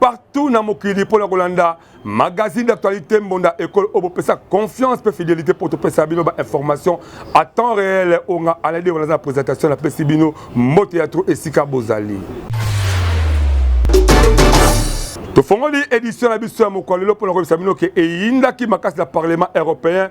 partout na mokili mpo na kolanda magazine d'actualité mbonda ekolo oyo bopesa confiance mpe fidélité mpo topesa bino bainformation à temps réel oyo nga aladi wana aza na présentation napesi bino mbote ya tro esika bozali tofongoli édition na biso ya mokolo lelo mpo na koyebisa bino ke eyindaki makasi na parlement européen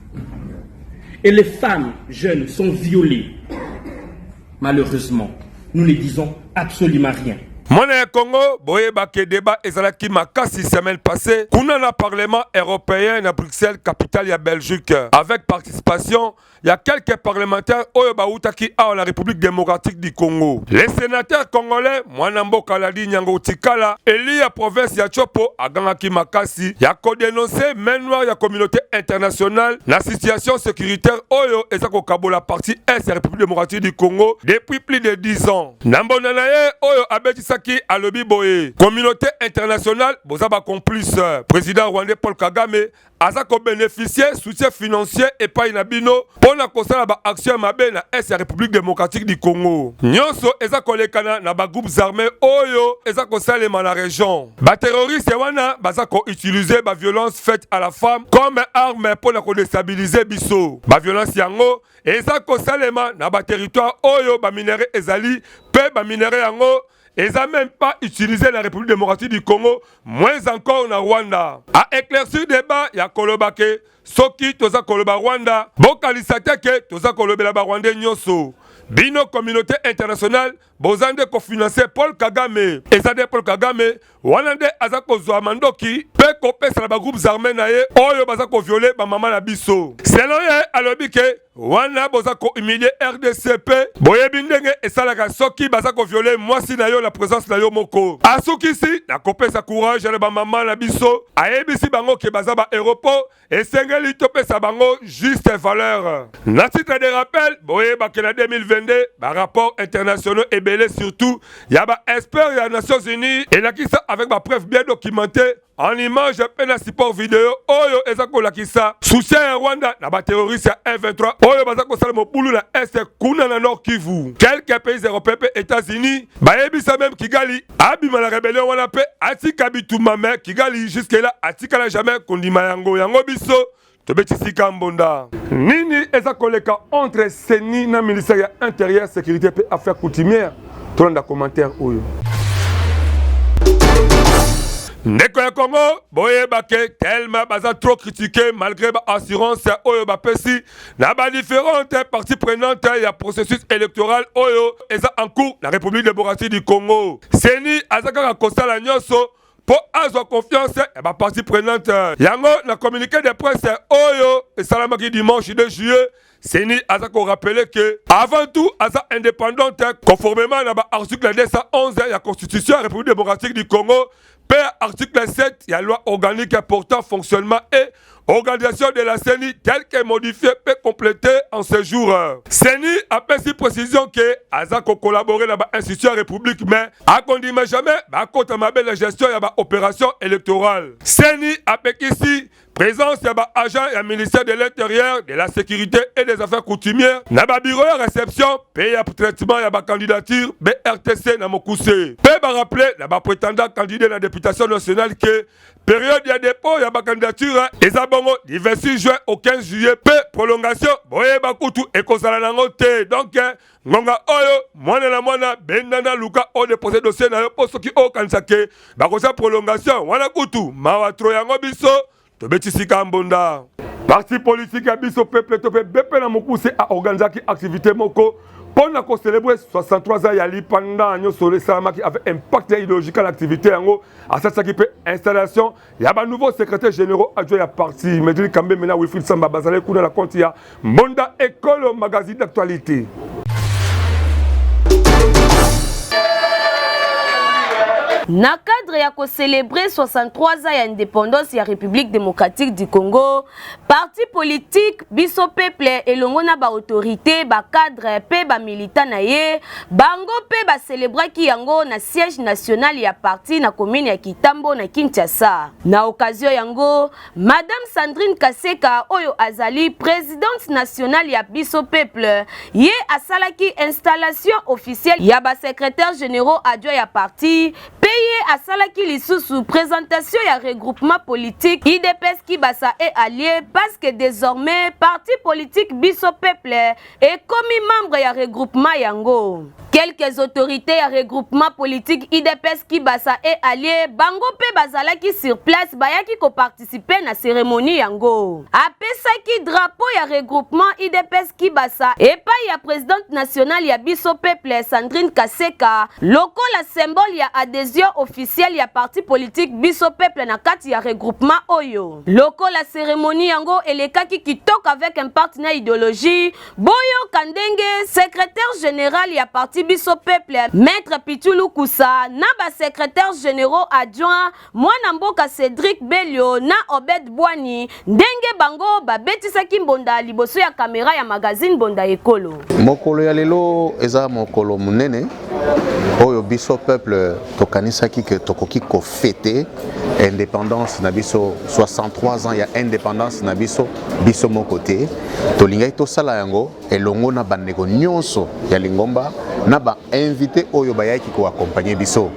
Et les femmes jeunes sont violées. Malheureusement, nous ne disons absolument rien. mwana ya congo boyebake deba ezalaki makasi semaine passée kuna na parlement européen na bruxelles capitale ya belgique avec participation ya quelques parlementaires oyo bautaki awa na république démocratique du congo les sénateurs congolais mwana mboka Ladi Nyango Tikala, eli ya province ya Tshopo, agangaki makasi ya ko denoncer main noire ya communauté internationale na situation securitaire oyo eza kokabola partie est ya République démocratique du Congo depuis plus de 10 ans. Na mbonda na ye oyo abetisaki alobi boye, communauté internationale boza ba complice. President rwandais Paul Kagame aza ko beneficier soutien financier epai na bino mpo na kosala ba action ya mabe na est ya République démocratique du Congo. Nyonso eza kolekana na ba groupes armés oyo eza kosalema na region. Ba terroristes wana baza ko utiliser ba violences faites à la femme comme arme mpo na ko destabiliser biso. Ba violences yango eza kosalema na ba territoires oyo ba minerais ezali mpe ba minerais yango eza même pas utilisé na République démocratique du Congo moins encore na Rwanda a éclaircir débat ya koloba ke soki toza koloba Rwanda bokanisa te ke toza kolobela ba Rwandais nyonso bino communauté internationale boza nde kofinanse Paul Kagame eza nde Paul Kagame wana nde aza kozwa mandoki mpe kopesa na bagroupes arme na ye oyo baza koviole bamama na biso. Selon ye alobi ke wana boza kohumilie rdc mpe boyebi ndenge esalaka soki baza koviole mwasi na yo na presence na yo moko. Asukisi na kopesa courage na bamama na biso, ayebisi bango ke baza ba heros mpo esengeli topesa bango juste valeur. Na titre de rappel, boyebaki na 2022 ba rapports internationaux ebele surtout ya ba experts ya Nations Unies elakisa avec ba preuves bien documentées en image mpe na support video oyo eza kolakisa soutien ya Rwanda na ba terroristes ya M23 oyo baza kosala mobulu na est kuna na Nord Kivu. Quelques pays européens mpe États-Unis Bayebisa meme Kigali abima na rebellion wana pe atika bitumba me Kigali jusque là atikala jamais kondima yango yango biso tobetisika mbonda. Nini eza koleka entre CENI na ministère ya interieur securite pe affaire coutumière tolanda commentaire oyo. Ndeko ya Congo boyeba ke tellement baza trop critique malgre ba assurance oyo bapesi na ba differentes parties prenantes ya processus électoral oyo eza en cours na République démocratique du Congo. CENI aza kaka kosala nyonso mpo azwa confiance ya ba parties prenantes. Yango na communiqué de presse oyo esalamaki dimanche 2 juillet CENI aza ko rappeler que avant tout aza indépendante conformément na ba article 211 ya constitution ya République démocratique du Congo P. Article 7 ya loi organique portant fonctionnement et organisation de la CENI telle que modifiée pe complétée en ce jour. CENI apesi précision ke aza kokolabore na bainstitution ya république mais akondima jamais bakota mabe na gestion ya baopération électorale. CENI apekisi Présence ya ba agents ya ministère de l'Intérieur, de la Sécurité et des Affaires coutumières na ba bureaux ya réception pe ya traitement ya ba candidatures BRTC na mokuse. Pe ba rappeler na ba prétendants candidats na députation nationale que période ya dépôt ya ba candidatures eza bongo du 26 juin au 15 juillet pe prolongation boyeba kutu ekozala nango te. Donc ngonga oyo mwana na mwana bendana luka o depose dossier na yo mpo soki okanisa ke bakosa prolongation wana kutu mawa tro yango biso tobetisi ka mbonda parti politiki ya biso peple to mpe bepe na mokuse aorganizaki aktivite moko mpo na kocelebre 63 ans ya lipanda nyonso esalamaki avec impact ya ideological activité yango asalisaki mpe installation ya ba nouveau secrétaire généraux adjo ya parti Medlin Kambembe na Wilfried Samba bazalaki kuna na compte ya Mbonda Ekolo magazine d'actualité. Na cadre ya ko celebrer 63 ans ya independance ya Republique democratique du Congo, Parti politique, biso peuple elongo na ba autorites, ba cadres mpe ba militants na ye, bango mpe ba celebraki yango na siège national ya parti na commune ya Kitambo na Kinshasa. Na occasion yango, Madame Sandrine Kaseka oyo azali presidente nationale ya biso peuple, ye asalaki installation officielle ya ba secretaires generaux adjoints ya parti Mpe ye asalaki lisusu presentation ya regroupement politique udps kibasa et allies parce que desormais parti politique biso peuple ekomi membre ya regroupement yango. Quelques autorites ya regroupement politique udps kibasa et allies bango mpe bazalaki sur place bayaki ko participer participer na ceremonie yango. Apesaki drapeau ya regroupement IDPS Kibasa epai ya presidente nationale ya biso peuple Sandrine Kaseka lokola symbole ya adhesion officielle ya parti politique biso peuple na kati ya regroupement oyo. Lokola ceremonie yango elekaki kitoko avec impact na ideologie, boyoka ndenge secrétaire général ya parti biso peuple Maître Pichulu Kusa na ba secrétaires généraux adjoints Mwana mboka Cedric Belio na Obed Bwani ndenge bango babetisaki mbonda liboso ya kamera ya magazine Mbonda Ekolo. Mokolo ya lelo eza mokolo monene oyo biso peuple tokanisaki ke tokoki kofete indépendance na biso 63 ans ya indépendance na biso biso moko te tolingaki tosala yango elongo na bandeko nyonso ya lingomba na bainvite oyo bayaki koakompagne biso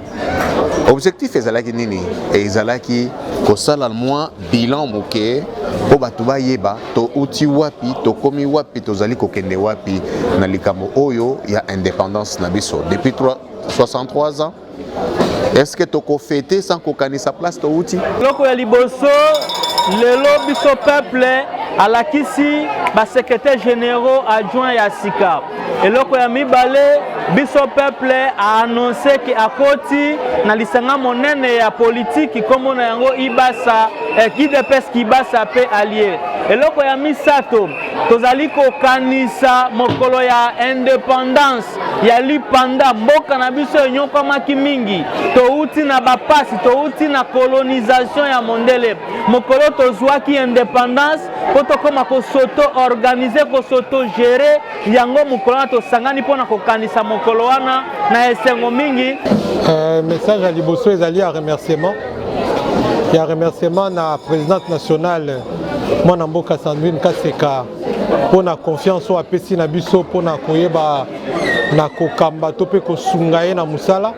objectif ezalaki nini ezalaki kosala mwa bilan moke mpo bato bayeba touti wapi tokomi wapi tozali kokende wapi na likambo oyo ya indépendance na biso depuis 63 ans est-ce que tokofete sans kokanisa place touti eloko ya liboso lelo biso peuple alakisi basekretare généraux adjoint ya sika eloko ya mibale biso peuple aannonce ke akoti na lisanga monene ya politiki nkombo na yango ibasa eh, idps kibasa mpe allier eloko ya misato tozali kokanisa mokolo ya independance ya lipanda mboka na biso enyokwamaki mingi touti na bapasi touti na kolonisation ya mondele mokolo tozwaki independance mpo tokoma kosoto organise kosoto gere yango mokolo wana tosangani mpo na kokanisa mokolo wana na esengo mingi uh, message ya liboso ezali ya remerciement ya remerciement na présidente nationale mwana mboka sandrine kaseka mpo na confiance oyo apesi na biso mpo na koyeba na kokamba to mpe kosunga ye na mosala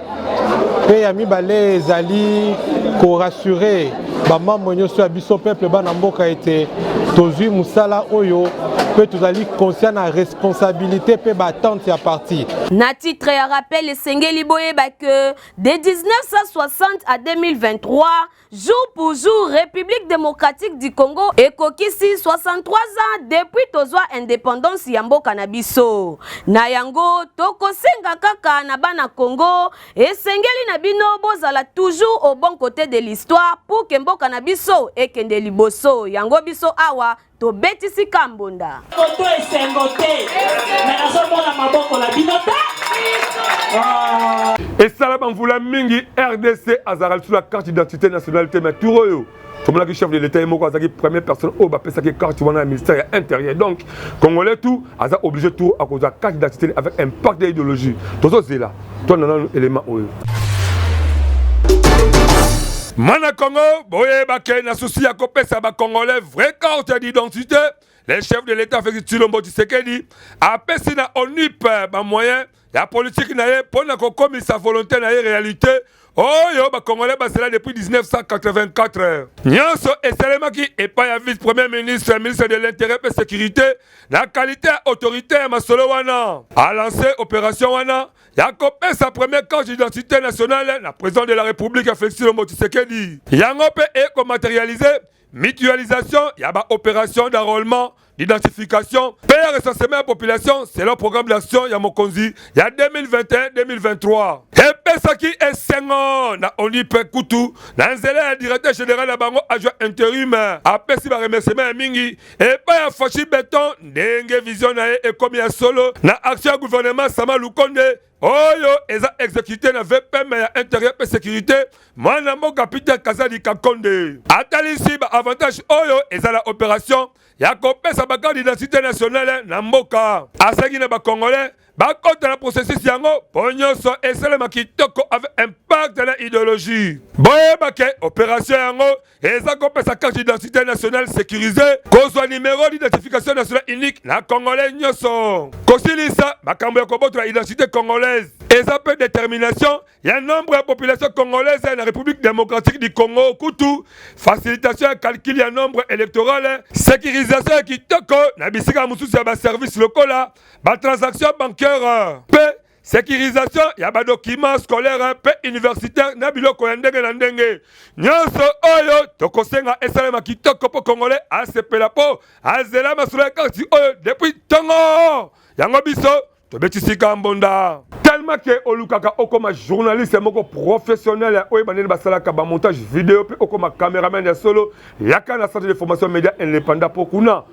mpe ya mibale ezali korasure bamambre nyonso ya biso peuple bana mboka ete tozwi mosala oyo mpe tozali conscient na responsabilité mpe battente ya parti na titre ya rappel esengeli boyeba ke de 1960 à 2023 Jour pour jour, République démocratique du Congo ekokisi 63 ans depuis tozwa indépendance ya mboka na biso. Na yango tokosenga kaka na bana Congo esengeli na bino bozala toujours au bon côté de l'histoire pour que mboka na biso ekende liboso. Yango biso awa tobetisi kambonda moto esengo te me nazomona maboko na bino te ah. esala bamvula mingi rdc azalaka lisu na carte d'identité nationale te mais tour oyo tomonaki chef de l'état ye moko azalaki première personne oyo bapesaki carte wana ya ministère ya intérieur donc congolais tout aza obligé tour akozwa carte d'identité avec impact ya idéologie tozozela twana nanu elema oyo Mana Congo, boye bake na souci ya kopesa ba Congolais vraie carte d'identité. Le chef de l'État Félix Tshilombo Tshisekedi apesi na ONIP ba moyens ya politique na ye mpo na kokomisa volonté na ye réalité oyo bakongolais basela depuis 1984 nyonso esalemaki epai ya vice premier ministre ya ministre de l'intérêt mpe sécurité na kalite ya autorité ya masolo wana alance opération wana ya kopesa premier carte d'identité nationale na président de la république ya félix lombo tshisekedi yango mpe ekomaterialise mutualisation ya ba opération d'enrôlement d'identification mpe ya recensement ya population selon programme d'action ya mokonzi ya 2021-2023 epesaki esengo na oni mpe kutu na nzela ya directeur général ya bango adjoint interim apesi baremerciement ya mingi epai ya fashi beton ndenge vision na ye ekomi ya solo na action ya gouvernement sama lukonde oyo eza exécuté na vpm ya intérieur mpe sécurité mwana mboka peter kazadi kakonde atalisi baavantage oyo eza na opération ya kopesa bakarte d'identité nationale na mboka asengi na bacongolais bakota na processus yango mpo nyonso esalema kitoko avec impact na idéologie boyeba ke opération yango eza kopesa carte d'identité nationale sécurisée kozwa numero d'identification nationale unique na congolais nyonso kosilisa makambo ya kobotola identité congolaise eza mpe détermination ya nombre ya population congolaise na république démocratique du congo kutu facilitation ya calcul ya nombre électorale sécurisation ya kitoko na bisika mosusu ya baservice lokola batransaction bancaire mpe securisation ya badokima scolaire mpe universitaire na biloko ya ndenge na ndenge nyonso oyo tokosenga esalema kitoko mpo kongole asepela mpo azela masolo ya karti oyo depuis ntongo yango biso tobetisika mbonda tellement ke olukaka okoma journaliste moko professionnel ya oyeba ndenge basalaka bamontage video mpe okoma cameraman ya solo yaka na centre de formation média indépendant mpo kuna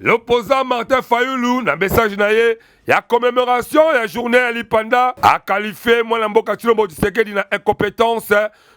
L'opposant Martin Fayulu na message na ye ya commemoration ya journée ya lipanda akalifie mwana mboka Tshilombo Tshisekedi na incompetence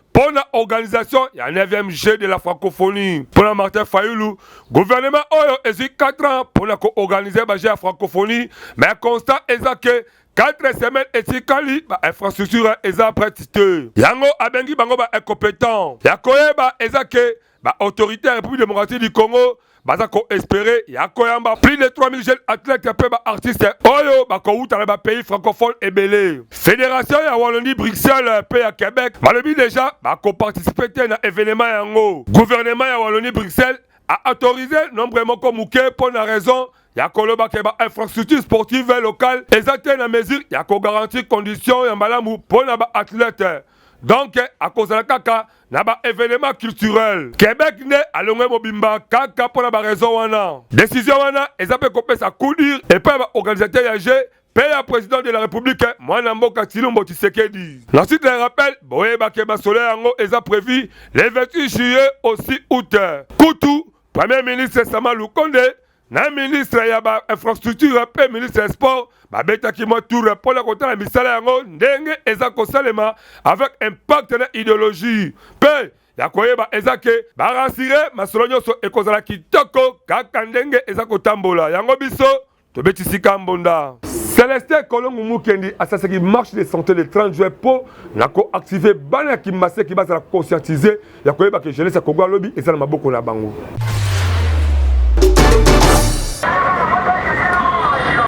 mpo na organisation ya 9e jeu de la francophonie mpo na martin fayulu guvernema oyo ezwi 4 ans mpo na koorganize bajeu ya francophonie mais constat eza ke 4 semaines etikali ba infrastructure eza prete te yango abengi bango ba incompetent ya koyeba eza ke Ba autorités ya République démocratique du Congo baza ko espérer ya koyamba plus de 3000 jeunes athlètes mpe ba artistes oyo bakowuta na ba pays francophones ebele. Fédération ya Wallonie Bruxelles mpe ya Québec balobi deja bakoparticipe te na événement yango. Gouvernement ya Wallonie Bruxelles a autorisé nombre moko moke mpo na raison ya koloba ke ba infrastructure sportive locale eza te na mesure ya kogarantir condition ya malamu mpo na ba athlètes donc akozala kaka na ba evenement culturel quebec nde alongwe mobimba kaka mpo na baraison wana desizio wana eza mpe kopesa kudir epai ya baorganisateur ya jeu mpe ya president de la republique mwana mboka tilombo tshisekedi na site ya rappel boyebake masolo yango eza prevu le 28 juillet aussi août kutu premier ministre sama lukonde na ministre ya ba infrastructure mpe ministre ya sport babetaki mwa tour mpo na kotala misala yango ndenge eza kosalema avec impact na ideologie mpe ya koyeba eza ke barasire masolo nyonso ekozala kitoko kaka ndenge eza kotambola yango biso tobeti sika mbonda celestin kolongo mukendi asasaki marche de santé le 30 juin mpo na koactive bana ya kimaseki bazala conscientise ya koyeba ke jeunesse ya Congo ya lobi eza na maboko na bango.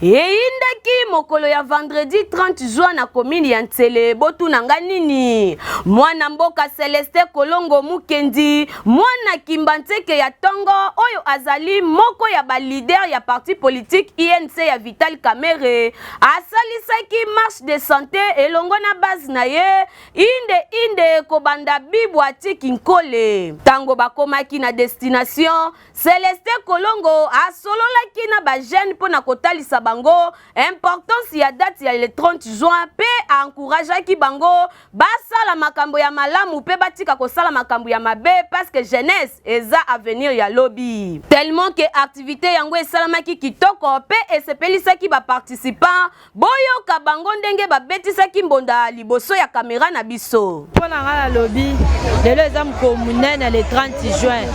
eyindaki mokolo ya vendredi 30 juin na komini ya nsele botuna nga nini mwana mboka celeste kolongo mukendi mwana kimba nseke ya tongo oyo azali moko ya balider ya parti politike inc ya vital kamere asalisaki marche de sante elongo na base na ye Inde inde kobanda bibu atiki nkole. Tango bakomaki na destination, Celestin Kolongo asololaki na ba jeunes mpo na kotalisa bango importance ya date ya le 30 juin mpe a encourageaki bango basala makambo ya malamu mpe batika kosala makambo ya mabe parce que jeunesse eza avenir ya lobi. Tellement que activite yango esalamaki kitoko mpe esepelisaki ba participants, Boyoka bango ndenge babetisaki mbonda liboso ya kamera na biso. Mpo na ngai nalobi lelo eza mokolo monene le 30 juin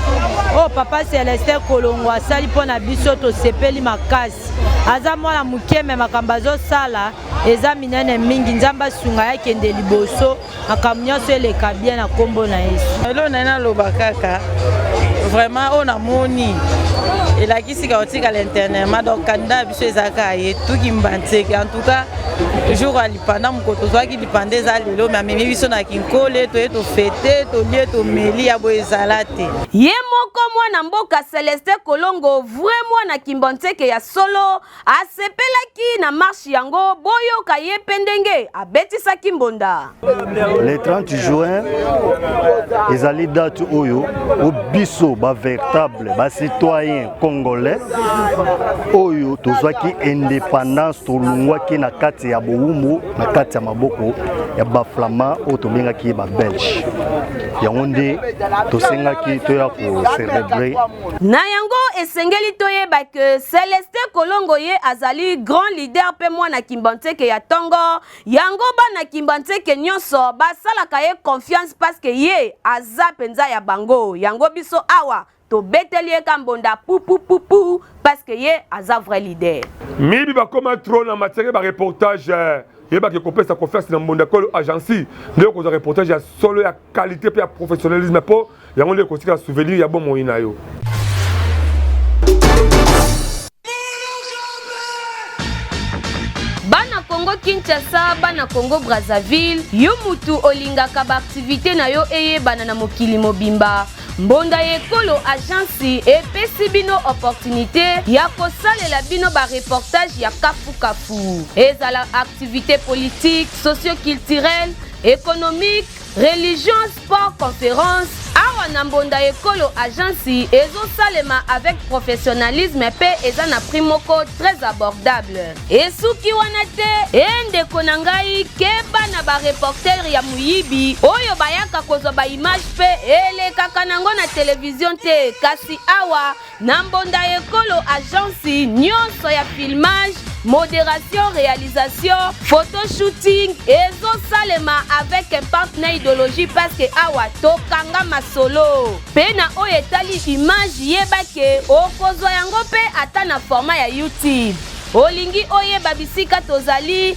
oyo oh, papa Celestin Kolongo asali mpo na biso, tosepeli makasi. Aza mwana moke me makambo azosala eza minene mingi. Nzambe asunga ye akende liboso. makambo nyonso eleka bien na nkombo na yesu elo nai naloba kaka vraiment oyo namoni elakisi ka otikala internement donc kanda biso eza kaka ye tuki mbanzeke en tout cas jour ya lipanda mokolo tozwaki lipanda eza lelo me amemi biso na kinkole toye tofete tolie tomeli ya boye ezala te ye moko mwana mboka celeste kolongo vrai mwana kimbanseke ya solo asepelaki na marche yango boyoka ye mpe ndenge abetisaki mbonda le 30 juin ezali date oyo o biso ba véritable ba citoyen congolais oyo tozwaki indépendance tolungwaki na kati ya bowumbu na kati ya maboko ya baflama oyo tobengaki ye babelge yango nde tosengaki toya kocelebre na yango esengeli toyeba que Celestin Kolongo ye azali grand leader mpe mwana Kimbanseke ya tongo yango bana Kimbanseke nyonso basalaka ye confiance parce que ye aza mpenza ya bango yango biso awa tobeteli ye ka mbonda pupupupu parce que ye aza vrai leader miyibi bakoma trop na matière ba reportage eh. yebaki kopesa confiance na mbonda kolo agence nde okozwa reportage ya solo ya qualité mpe ya professionnalisme mpo Yango nde ekotika souvenir ya bomoi na yo. Congo Kinshasa, bana Congo Brazzaville, yo mutu olingaka ba activité na yo eyebana na mokili mobimba. Mbonda ya ekolo agence epesi bino opportunité ya kosalela bino ba reportage ya kafukafu, ezala activité politique, socioculturelle, économique Religion Sport Conference awa na mbonda ekolo agence ezosalema avec professionnalisme mpe eza na prix moko très abordable esuki wana te e ndeko na ngai keba na bareportere ya moyibi oyo bayaka kozwa baimage mpe elekaka nango na televizio te kasi awa Na mbonda ya ekolo agence nionso ya filmage, moderation, realisation, photo shooting ezo salema avec un partner idologie parce que awa to kanga masolo. Pe na oyo etali image yeba que oko zwa yango pe ata na format ya YouTube. Olingi oyeba bisika tozali?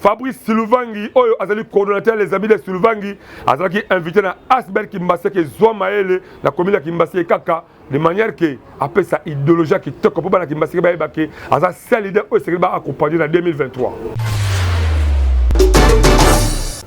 Fabrice Siluvangi oyo azali coordonnateur les amis de Siluvangi azalaki invité na Asbel Kimbase ke zwa maele na commune ya Kimbase kaka de manière que apesa idéologie kitoko mpo bana Kimbase bayeba ke aza seul leader oyo esengeli ba accompagner na 2023.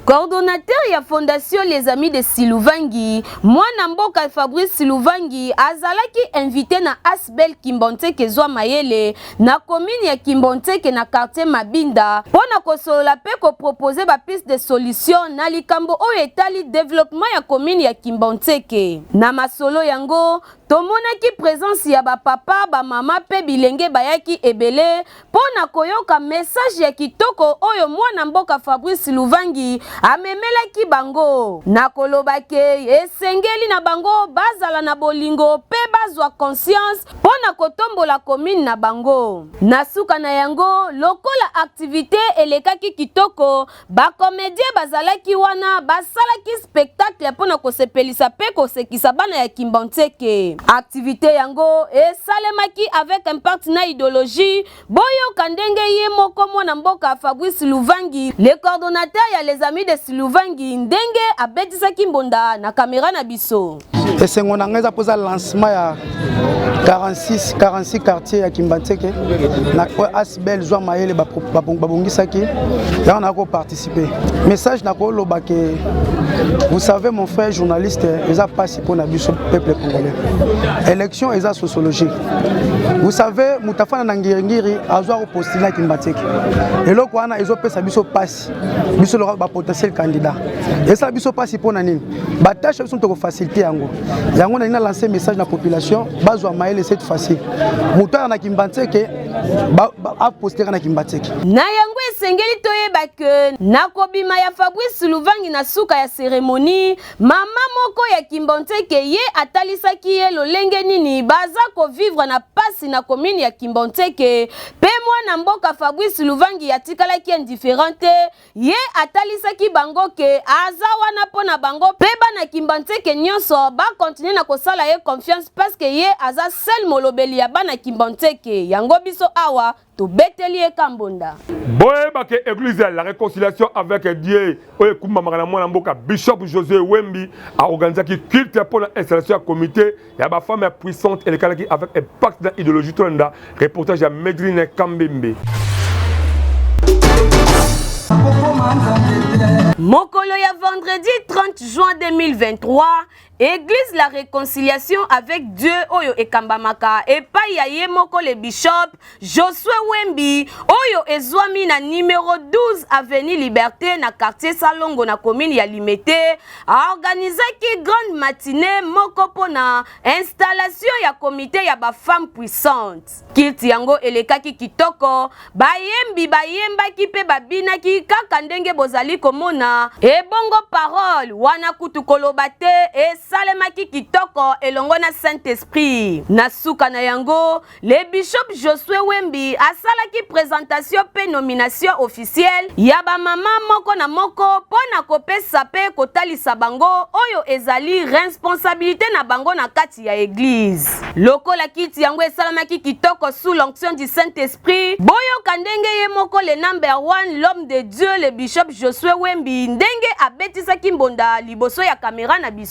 Coordonnateur ya Fondation Les Amis de Siluvangi, mwana mboka Fabrice Siluvangi azalaki invité na Asbel Kimbanteke Zwa Mayele na commune ya Kimbontseke na quartier Mabinda mpo na kosolola mpe ko proposer ba pistes de solutions na likambo oyo etali developpement ya commune ya Kimbontseke. Na masolo yango, tomonaki presence ya ba papa, ba mama mpe bilenge bayaki ebele mpo na koyoka message ya kitoko oyo mwana mboka Fabrice Luvangi amemelaki bango na koloba que esengeli na bango bazala na bolingo mpe bazwa conscience mpo na kotombola commune na bango. Na suka na yango, lokola activite elekaki kitoko, ba comediens bazalaki wana basalaki spectacle mpo na kosepelisa mpe kosekisa bana ya Kimbanseke. Activite yango esalemaki avec impact na ideologie, Boyoka ndenge ye moko mwana mboka Fabrice Luvangi, le coordonnateur ya les amis de Siluvangi ndenge abetisaki mbonda na camera na biso. Esengo na ngai eza mpoza lancement ya 46 46 quartier ya Kimbanseke na Asbel zwa mayele babongisaki yango na ko participer message na ko loba ke vous savez mon frère journaliste eza pasi pona biso peuple congolais élection eza sociologie vous savez mutafana na ngiri ngiri azwa ko postuler ki mbateke eloko wana ezo pesa biso pasi biso loka ba potentiel candidat esa biso pasi pona nini ba tâche biso toko faciliter yango yango na ina lancer message na population bazwa maele cette fois-ci mutana na ki mbateke aposteka na kimbatseke na yango esengeli toyeba ke na kobima ya fabrice luvangi na suka ya seremoni mama moko ya kimbanseke ye atalisaki ye lolenge nini baza kovivre na pasi na komini ya kimbanseke mpe mwana mboka fabrice luvangi atikalaki indifférent te Ye atalisaki bango ke aza wana mpo na bango mpe bana Kimbanseke nionso ba continuer na kosala ye confiance parce que ye aza seul molobeli ya bana Kimbanseke yango biso awa tobeteli ye ka mbonda. Boyeba ke eglise ya la reconciliation avec Dieu oyo ekumbamaka na mwana mboka Bishop Josue Wembi a organisaki culte mpo na installation ya comite ya ba femme ya puissante elekalaki avec impact na idéologie tolanda reportage ya medrine kambembe mokolo ya vendredi 30 juin 2023 église la réconciliation avec dieu oyo ekambamaka epai ya ye moko le bishop Josue Wembi oyo ezwami na numero 12 avenue Liberté na quartier Salongo na commune ya Limete aorganisaki grande matinée moko mpo na installation ya komite ya ba femmes puissantes. Kilti yango elekaki kitoko, bayembi bayembaki mpe babinaki kaka ndenge bozali komona. Ebongo parole wana kutu koloba te, esalemaki kitoko elongo na Saint-Esprit. Na suka na yango Le bishop Josue Wembi asalaki presentation mpe nomination officielle ya ba mama moko na moko mpo na kopesa mpe kotalisa bango oyo ezali responsabilite na bango na kati ya eglise. Lokola kiti yango esalamaki kitoko sous l'onction du Saint-Esprit, boyoka ndenge ye moko le number one, l'homme de Dieu, le bishop Josue Wembi ndenge abetisaki mbonda liboso ya camera na biso.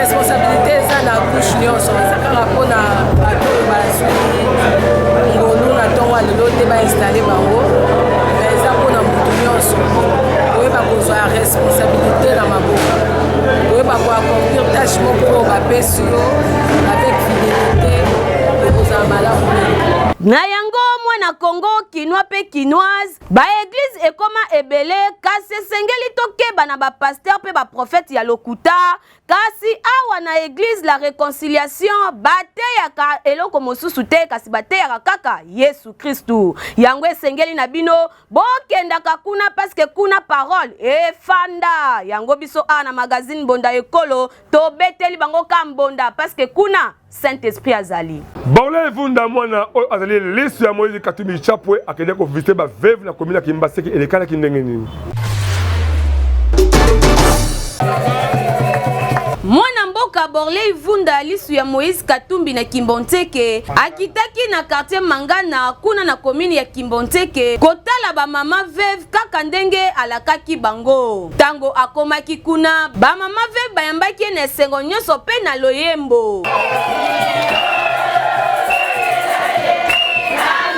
responsabilité eza na couche nyonso eza kaka mpo na bato oyo bazwi ngolu na ntongo ya lelo te bainstalle bango me eza mpo na motu nyonso koyeba kozwa ya responsabilité na maboko koyeba koaccomplir tâche moko oyo bapesi yo avec fidelité ekozala malamu na yango mwana congo kinois mpe kinoise Ba eglise ekoma ebele kasi esengeli tokeba na ba pasteur pe ba prophète ya lokuta kasi awa na eglise la reconciliation bateyaka eloko mosusu te kasi bateyaka kaka Yesu Kristu yango esengeli na bino bokendaka kuna paske kuna parole efanda yango biso awa na magazine mbonda ekolo tobeteli bango ka mbonda paske kuna saint esprit azali baola evunda mwana oyo azali lisu ya moise katumbi chapwe akende koviste baveve na komina kimbaseke elekalaki ndenge nini mwana mboka borley vunda lisu ya moïse katumbi na kimbonzeke akitaki na quartier mangana kuna na komini ya kimbonzeke kotala bamama veve kaka ndenge alakaki bango Tango akomaki kuna, ba mama ve bayambaki ye na esengo nyonso pe na loyembo.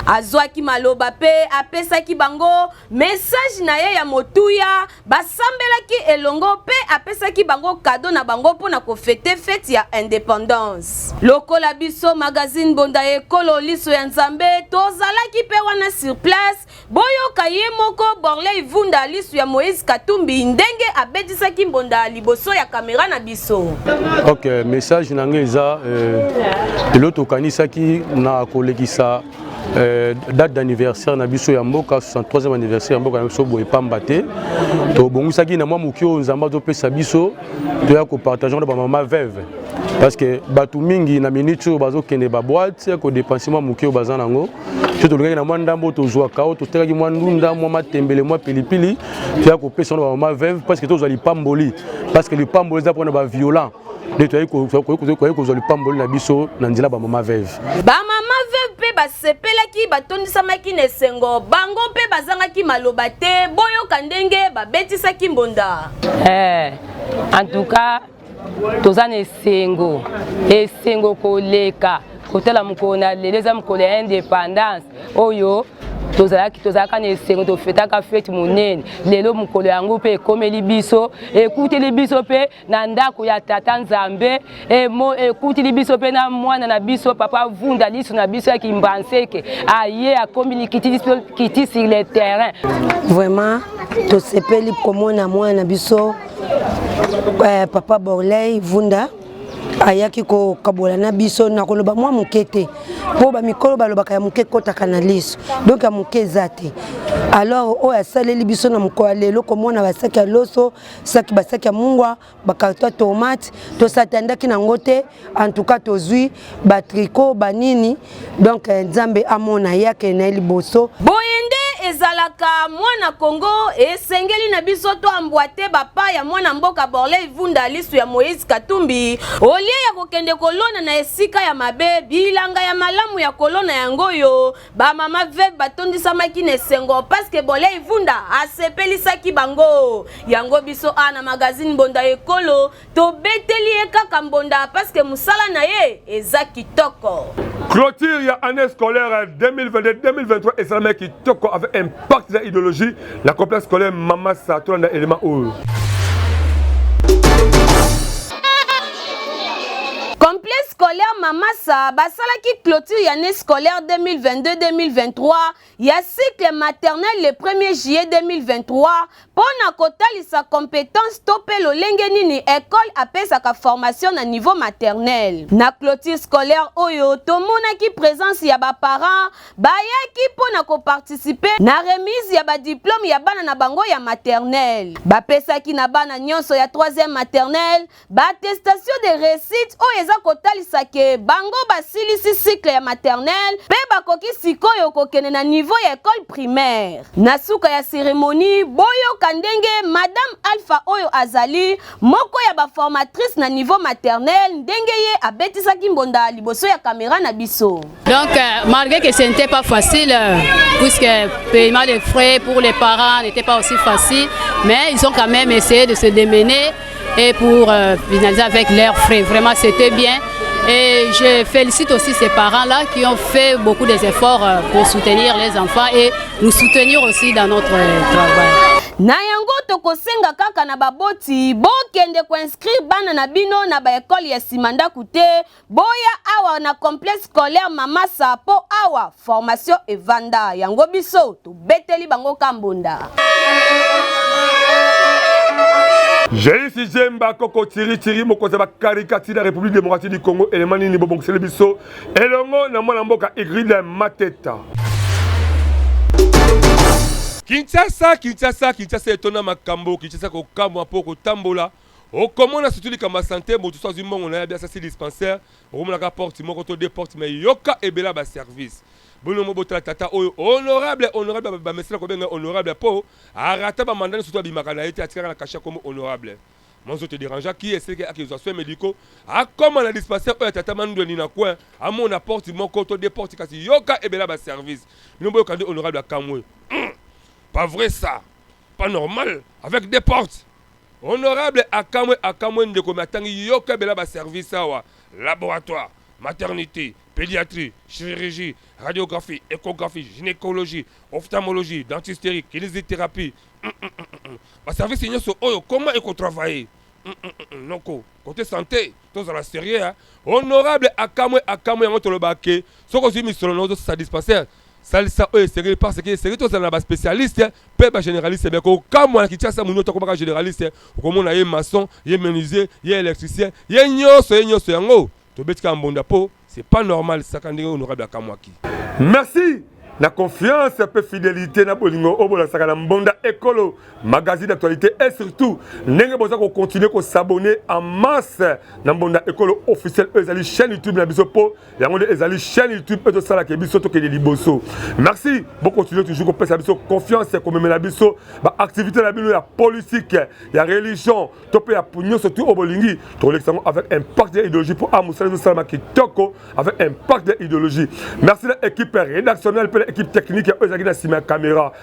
azwaki maloba mpe apesaki bango mesaje na ye ya motuya basambelaki elongo mpe apesaki bango kado na bango mpo na kofete feti ya independance lokola biso magazine bonda ya ekolo liso ya nzambe tozalaki mpe wana sur place Boyoka ye moko Borley Vunda lisu ya Moïse Katumbi ndenge abetisaki mbonda liboso ya kamera na biso. Ok, message na ngai eza eh, eloko tokanisaki na kolekisa Euh, date d'anniversaire na biso ya mboka 63e anniversaire ya mboka na biso boye pamba te tobongisaki na mwa moki oyo nzambe azopesa biso toya kopartage na bamama veve parce que bato mingi na minute oyo bazokende baboite kodepense mwa moki oyo baza nango to tolingaki na mwa ndambo tozwaka oyo totekaki mwa ndunda mwa matembele mwa pilipili toya kopesa wana bamama veuve parce que tozwa lipamboli parce que lipamboli eza mpona baviolant nde toyaki kozwa lipamboli na biso na nzela bamama veuve bamama veuve mpe basepelaki batondisamaki na esengo bango mpe bazangaki maloba te boyoka ndenge babetisaki mbonda hey, eh, en tout cas toza na esengo esengo koleka kotala mokolo na lelo eza mokolo ya indépendance oyo tozalaki tozalaka na esengo tofetaka fete monene lelo mokolo yango mpe ekomeli biso ekuteli biso mpe na ndako ya tata nzambe ekuteli biso mpe na mwana na biso papa vunda liso na biso ya kimbanseke aye akomi likiti sur le terrain vraiment tosepeli komona mwana na biso eh, papa borley vunda ayaki kokabola na biso na koloba mwa moke te mpo bamikolo balobaka ya moke ekotaka na liso donk ya moke eza te alors oyo asaleli biso na mokolo ya lelo komona basaki ya loso saki basaki ya mungwa bakarto ya tomate tosatandaki na yango te en tout cas tozwi batriko banini donc eh, nzambe amona ye akende na ye liboso boye nde ezalaka mwana kongo esengeli na biso toambwate bapa ya mwana mboka borley vunda lisu ya moïse katumbi olie ya kokende kolona na esika ya mabe bilanga ya malamu ya kolona yango oyo bamama veve batondisamaki na esengo paske bolei vunda asepelisaki bango yango biso a na magazine mbonda ekolo tobeteli ye kaka mbonda paske mosala na ye eza kitoko Clôture ya année scolaire 2022-2023 esalamaki kitoko avec impact na idéologie na complexe scolaire Mama Sa tolanda élément oyo. Complexe scolaire Mama Sa basalaki clôture ya année scolaire 2022-2023 ya cycle maternel le 1er juillet 2023 mpo na kotalisa competence to mpe lolenge nini ekole apesaka formation na niveau maternel. Na clôture scolaire oyo, tomonaki presence ya baparents bayaki mpo na koparticipe na remise ya badiplome ya bana na bango ya maternel. Bapesaki na bana nyonso ya 3e maternel Ba attestation de recite oyo eza kotalisa ke bango basilisi cycle ya maternelle pe bakoki sikoyo kokende na niveau ya ecole primaire. Na suka ya ceremonie, boyoka ndenge Madame Alpha oyo azali moko ya ba formatrices na niveau maternelle ndenge ye abetisaki mbonda liboso ya camera na biso. Donc, euh, malgré que ce n'était pas facile, euh, puisque le paiement des frais pour les parents n'était pas aussi facile, mais ils ont quand même essayé de se démener et pour euh, finaliser avec leurs frais. Vraiment, c'était bien. Et je félicite aussi ces parents-là qui ont fait beaucoup d'efforts pour soutenir les enfants et nous soutenir aussi dans notre travail. na yango tokosenga kaka na baboti bokende koinscrire bana na bino na baekole ya nsima ndako te Boya awa na complexe scolaire Mama Sa po awa formation evanda yango biso tobeteli bango kambonda. Jeisi Jemba Koko Tiri Tiri mokonzi ya bakarikati na République démocratique du Congo elema nini bobongiseli biso elongo na mwana mboka Igride Mateta. Kinshasa, Kinshasa, Kinshasa etona makambo, Kinshasa kokamwa mpo kotambola Okomona surtout likambo ya sante mutu so azwi mbongo naye abi asasi dispensaire okomona kaka porte moko to deux porte mais yoka ebele ya ba service bino mo botala tata oyo honorable honorable ba mesana kobenga honorable po arata ba manda nionso to abimaka naye te atikaka na cachet kombo honorable moi zo te derangea ki eseleke akezwa soin medicaux akoma na dispensaire oyo ya tata mandweni na coin amona porte moko to deux porte kasi yoka ebele ya ba service bino boyoka nde honorable akamwe pas vrai ça pas normal avec deux portes Honorable akamwe akamwe ndeko mais atangi yoka bela ba service awa laboratoire, maternite, pediatrie, chirurgie, radiographie, echographie, gynecologie, ophtamologie, dentisterie, kinisitheraphie humm ba service nyoso oyo comment eko travailler humm noko cote sante tozala serieux hein. Honorable akamwe akamwe yango tolobaka ke soki ozui misolo nayo ozo sisa dispensaire Salisa oyo esengeli parce que esengeli tozala na ba specialiste pe ba generaliste bien kokamwa na Kinshasa muno to komaka generaliste okomona ye maçon ye menuisier ye électricien ye nyonso ye nyonso yango tobeti kaka mbonda po c'est pas normal saka ndenge honorable akamwaki Merci na confiance mpe fidelite na bolingo oyo bolakisaka na Mbonda Ekolo magazine d'actualité et surtout ndenge boza ko continuer ko s'abonner en masse na Mbonda Ekolo officiel oyo ezali chaîne YouTube na biso mpo yango nde ezali chaîne youtube oyo tosalaka ye biso tokende liboso merci bokontinue toujours kopesa biso confiance komemela biso baactivité na bino ya politique ya religion to mpe ya nyonso tu oyo bolingi tokolekisa yango avec impact ya idéologie mpo a mosala ezosalama kitoko avec impact ya idéologie merci na équipe rédactionnelle mpe na équipe technique oyo ezalaki na nsima ya caméra